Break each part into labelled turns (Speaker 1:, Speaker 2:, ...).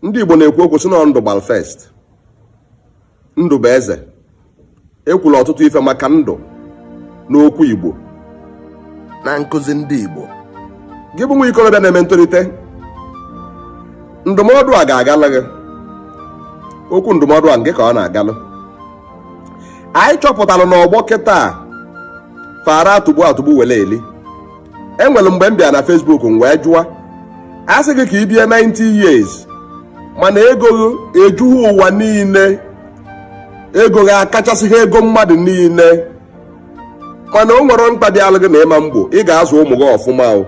Speaker 1: ndị Igbo na-ekwu okwu sị na ndụ gbalụ first ndụ bụ eze ekwula ọtụtụ ife maka ndụ n'okwu Igbo na nkụzi ndị Igbo gị bụ nwa ikorobịa na-eme ntolite ndụmọdụ a ga-agalụ gị okwu ndụmọdụ a ngị ka ọ na-agalụ anyị chọpụtara na ọgbọ kịta fara atụgbu atụgbu were eli e nwere mgbe m bịa na Facebook m wee jụọ a sị gị ka i bie 90 years mana ego gị ejughị ụwa niile ego gị akachasịghị ego mmadụ niile mana o nwerọ mkpa dịalụ gị na ị ma egbo ị ga-azụ ụmụ gị ọfụma i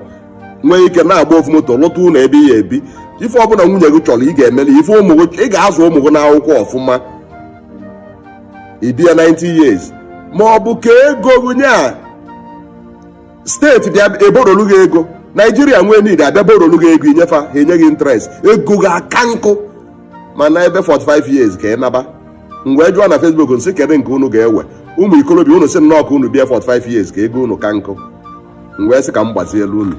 Speaker 1: nwee ike na-agba ofu moto lụta ụnọ ebe ị ya ebi ife ọbụla nwunye gị chọrọ ị ga-emeli ife ụmụ gị ị ga-azụ ụmụ gị n'akwụkwọ ọfụma i bie 90 years ma ọ bụ ka ego gị nye a steeti bịa eborolu gị ego naijiria nwee need a bịa borolu gị ego i nye fa ha enye gị interest ego gị aka nkụ mana ebe 45 years ka ị naba m wee jụọ na facebook m sị kedu nke unu ga-ewe ụmụ ikorobịa unu sị nnọọ ka unu bie 45 years ka ego unu ka nkụ m wee sị ka m gbazielu unu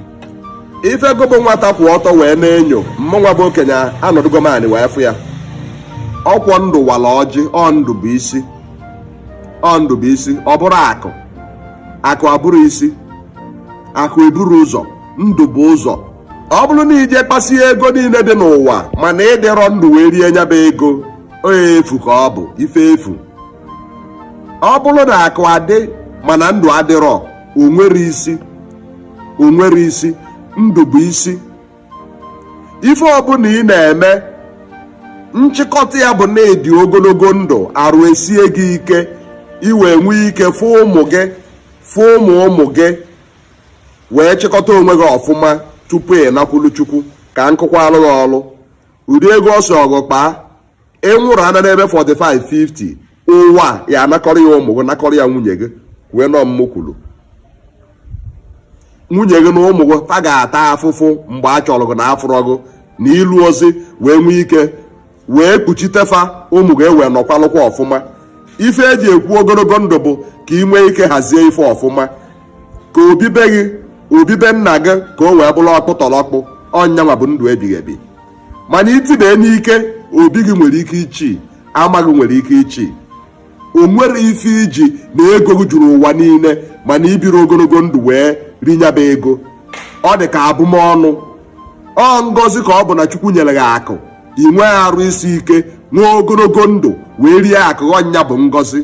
Speaker 1: ife gị bụ nwata kwụ ọtọ wee na-enyo mụnwa bụ okenye anọdụgo m anị wee fụ ya ọ kwa ndụ wala ọjị ọ ndụ bụ isi ọ ndụ bụ isi ọ bụrọ akụ akụ abụrọ isi akụ eburọ ụzọ ndụ bu ụzọ ọ bụrụ na i je kpasie ego niile dị n'ụwa mana ị dịrọ ndụ wee rie nya bụ ego ọ ife efu ka ọ bụ ife efu ọ bụrụ na akụ adị mana ndụ adịrọ o nwerọ isi o nwerọ isi ndụ bụ isi ife ọbụla ị na-eme nchịkọta ya bụ na ị dị ogologo ndụ arụ esie gị ike i wee nwee ike fụ ụmụ gị fụ ụmụ ụmụ gị wee chịkọta onwe gị ọfụma tupu ị nakwulu chukwu ka nkụkwa alụghị ọlụ ụdị ego ọ sọ gị kpaa ị nwụrụ anwụ n'ebe 45 50 ụwa ya anakọrọ ya ụmụ gị nakọrọ ya nwunye gị kwue na ọ mụ kwuru nwunye gị na ụmụ gị fa ga-ata afụfụ mgbe a chọrọ gị na a fụrọ gị n'ilu ezi wee nwee ike wee kpuchite fa ụmụ gị e wee nọkwalụkwa ọfụma ife e ji ekwu ogologo ndụ bụ ka ị nwee ike hazie ife ọfụma ka obi be gị obi be nna gị ka o wee bụrụ ọkpụ tọrọ ọkpụ ọ nyanwa bụ ndụ ebighị ebi mana i tibie n'ike obi gị nwere ike ichi ama gị nwere ike ichi o nwerọ ife i ji na ego gị juru ụwa niile mana i birọ ogologo ndụ wee rie nya bụ ego ọ dị ka abụmọnụ ọ ngozi ka ọ bụ na chukwu nyere gị akụ ị nwee arụ isi ike nwee ogologo ndụ wee rie akụ gị ọ nya bụ ngozi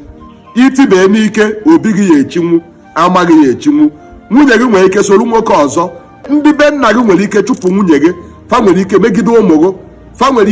Speaker 1: i tibie n'ike obi gị ya echinwu ama gị ya echinwu nwunye gị nwere ike soro nwoke ọzọ ndị be nna gị nwere ike chụpụ nwunye gị fa nwere ike megide ụmụ gị fa nwere